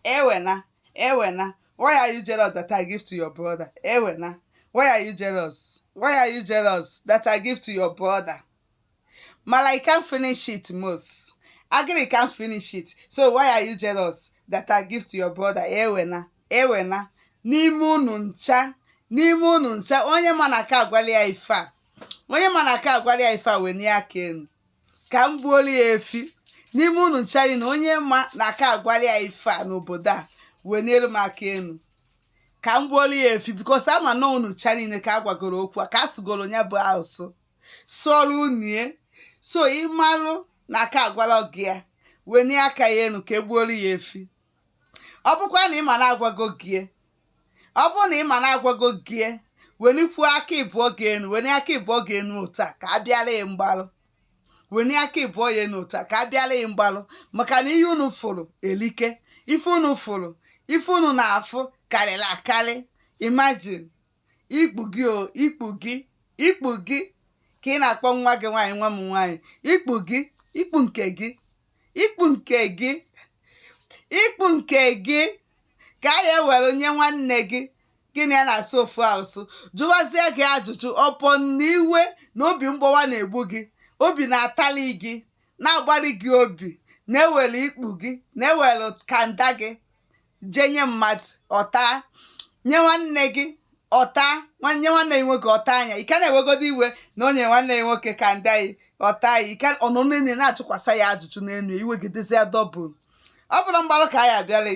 Ewena, Ewena, why are you jealous that I give to your brother? Ewena, why are you jealous? Why are you jealous that I give to your brother? Malai can't finish it, Mos. Agri can't finish it. So why are you jealous that I give to your brother? Ewena, Ewena, n'ime unu ncha, n'ime unu ncha, onye ma na aka agwala ya ife a, onye ma na aka agwala ya ife a weni aka enu. ka m gbuolu ya efi n'ime unu ncha niile onye ma na aka agwala ya ife a n'obodo a wenielu m aka enu ka m gbuolu ya efi because ama na unu ncha niile ka a gwagoro okwu a ka a sụgoro ya bụ asụsụ sụọrọ unu ya so ịmalụ na aka agwala gị ya weni aka ya enu ka e gbuolu ya efi ọ bụkwa na ị ma na agwago gị ya ọ bụ na ị ma na agwago gị wenikwuo aka ịbụọ gị enu weni aka ịbụọ gị enu otu a ka a bịara ya mgbalụ weni aka ịbụọ ya enu otu a ka a bịara ya mgbalụ maka na ihe unu fụrụ elika ife unu fụrụ ife unu na-afụ karịrị akarị imagine ikpu gị o ikpu gị ikpu gị ka ị na-akpọ nwa gị nwaanyị nwa m nwaanyị ikpu gị ikpu nke gị ikpu nke gị ikpu nke gị ka a ya ewere nye nwanne gị gị na ya na-asụ ofu asụsụ jụwazie gị ajụjụ ọ bụ na iwe na obi mgbawa na-egbu gị obi na-atali gị na-agbari gị obi na-ewere ikpu gị na-ewere kanda gị jee nye mmadụ ọ taa nye nwanne gị ọ taa nye nwanne gị nwoke ọ taa ya ị ka na-ewegodo iwe na o nye nwanne gị nwoke kanda gị ọ taa ya ike ọnụ niile na-achụkwasa ya ajụjụ n'enu i wegidezie ya double ọ bụrụ mgbalụ ka a ya abịala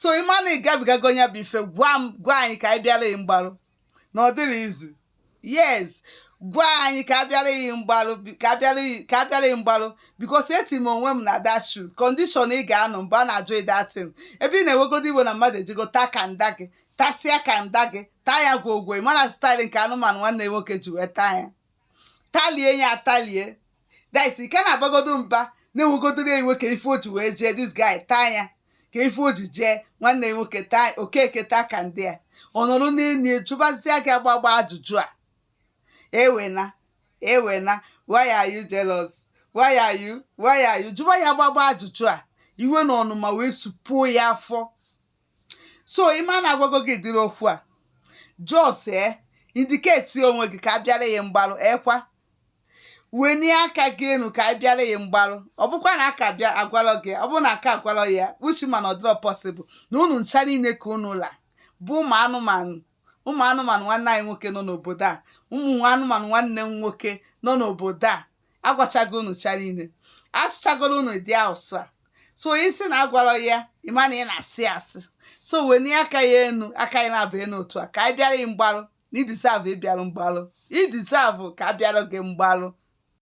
so ịma na ị gabigago nya bụ ife gwa anyị ka anyị bịala mgbalụ na ọ dịrọ easy yes gwa anyị ka a bịara gị mgbalụ bi- ka a bịara gị ka a bịara gị mgbalụ because eti m onwe m na that shoe condition ị ga-anọ mgbe a na-ajụ ị that thing ebe ị na-ewegodo iwe na mmadụ ejego taa kanda gị tasịa kanda gị taa ya gwogwo ị ma na style nke anụmanụ nwanne nwoke ji wee taa ya talie ya atalie that's ị ka na-abagodo mba na-ewegodoro ya iwe kee ife o ji wee jee this guy taa ya kee ife o ji jee nwanne ya nwoke taa okeke taa kanda ya ọ nọrọ n'enu ya jụbazịa gị agbagba ajụjụ a ewena ewena why are you jealous why are you why are you jụba ya agbagba ajụjụ a iwe na ọnụma wee supuo ya afọ so ịma na agwago gị ụdịrị okwu a just ee indicate onwe gị ka a bịara ya mgbarụ ekwa wenie aka gị enu ka a bịara ya mgbarụ ọ bụkwa na aka bịa agwalọ gị ọ bụ na aka agwalọ ya uchi mana ọ dịrọ possible na unu ncha niile ka unu la bụ ụmụ anụmanụ ụmụ anụmanụ nwanne anyị nwoke nọ n'obodo a ụmụ anụmanụ nwanne m nwoke nọ n'obodo a agwachago unu ncha niile asụchagoro unu dị asụsụ a so isi na agwara ya ị ma na ị na-asị asị so wenie aka ya enu aka ya na-abụ enu otu a ka anyị bịara gị mgbarụ na i deserve ịbịarụ mgbarụ i deserve ka a bịara gị mgbarụ